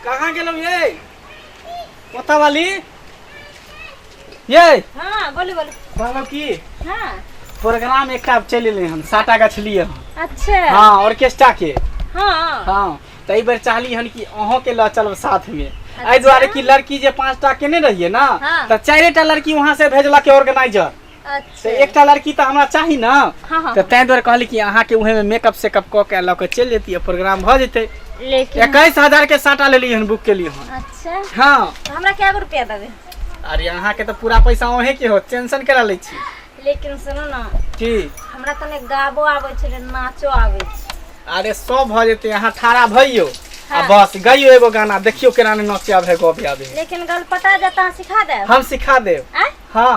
कहाँ गेलौ ये कोता वाली ये हाँ बोलू बोलू कहलौ की हाँ प्रोग्राम एकटा चलि एलै हन साटा गाछ लिए हन अच्छा हाँ ऑर्केस्ट्रा के हाँ हाँ त एहि बेर चाहली हन कि अहों के लऽ चलब साथ में एहि दुआरे कि लड़की जे पांच टा केने रहिए ना हाँ। त चारे टा लड़की वहां से भेजलक ऑर्गेनाइजर अच्छा तऽ एकटा लड़की तऽ हमरा चाही ने हाँ हाँ तऽ ताहि दुआरे कहली कि अहाँके उहेमे मेकअप सेकअप कऽ के लऽ के चलि जैतियै प्रोग्राम भऽ जेतै लेकिन एकैस हजार के साटा लेली हन बुक केली हन अच्छा हाँ तो हमरा क्या गो रुपया देबे अरे अहाँके तऽ पूरा पैसा अहें के हो टेंशन करा लै छी लेकिन सुनू ना की हमरा तने गाबो आबै छलै नाचो आबै छै अरे सब भऽ जेतै अहाँ ठाड़ा भइयो आ हाँ। बस गइयो एगो गाना देखियो केना ने नचे आबे गबे आबे लेकिन गलपटा जता सिखा दे हम सिखा देब आँय हाँ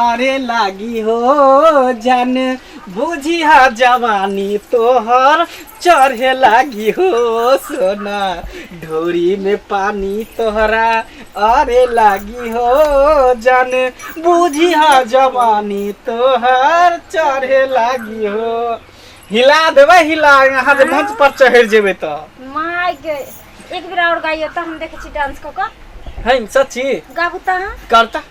अरे लागी हो जान बुझिया जवानी तोहर चढ़े लागी हो सोना ढोरी में पानी तोहरा अरे लागी हो जान बुझिया जवानी तोहर चढ़े लागी हो हिला देबै हिला अहाँ जे मंच पर चढ़ि जेबै तऽ माय के एक बेर और गाइयो त हम देखे छी डांस क क है सच्ची गाबू त अहाँ करता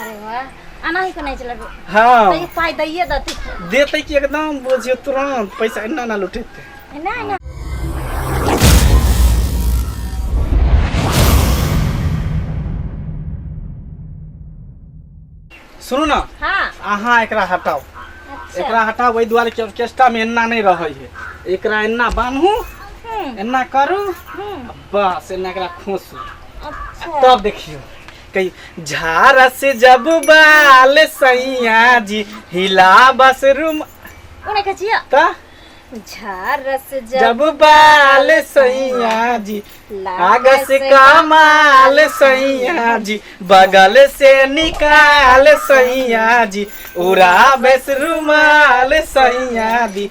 अरे वाह आना ही को नहीं चला हाँ तो ये पाई दइए दती देते कि एकदम बुझियो तुरंत पैसा इन्ना ना लुटेते है ना है ना सुनू ना हाँ अहाँ एकरा हटाओ अच्छा एकरा हटाओ वही दुआरे के ऑर्केस्ट्रा में एन्ना नहीं रहे है एकरा एन्ना बान्हू हम्म, एन्ना करू हम्म, बस एन्ना एकरा खोसू अच्छा तब देखियो कही झारा से जब बाल सैया जी हिला बस रूम उन्हें कचिया ता झरस जब जब बाल सैया जी आगस कमाल सैया जी बगल से निकाल सैया जी उड़ा बेस रुमाल सैया जी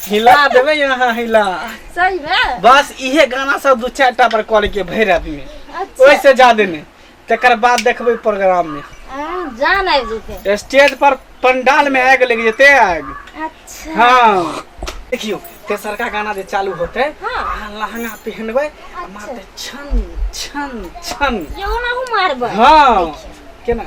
हिला देबै यहाँ हिला सही में बस इहे गाना सब दू चारि टा पर कॉल के भरि राति में अच्छा ओहिसे जादे नहि तकर बाद देखबै प्रोग्राम में हाँ, जान आबि जेतै स्टेज पर पंडाल में आग लग जेते आग अच्छा हाँ देखियो तेसरका गाना जे चालू होते हाँ। अहाँ लहंगा पहनबै आ मारते छन छन छन एगो ना हूँ मारबै हाँ केना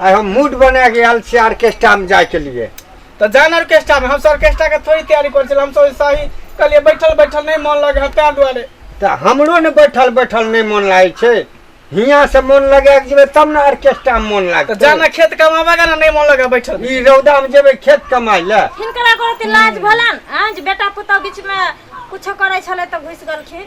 आइ हम मूड बना के आयल छियै ऑर्केस्ट्रा में जाय के लिए तो जान ऑर्केस्ट्रा में हम सब ऑर्केस्ट्रा के थोड़ी तैयारी कर छल हम सब सही कहलिए बैठल बैठल नहीं मन लगे है तार दुआरे तऽ हमरो ने बैठल बैठल नहि मोन लागै छै हियाँ से मोन लगा के जेबै तब ने ऑर्केस्ट्रा में मोन तो लागतै जाना खेत कमावा का ना नहीं मन लगे बैठल में। ई रौदा में जेबै खेत कमाइ लए हिनकरा करत लाज भेलन हँ जे बेटा पुतहु बीचमे कुछो करै छलै तऽ घुसि गेलखिन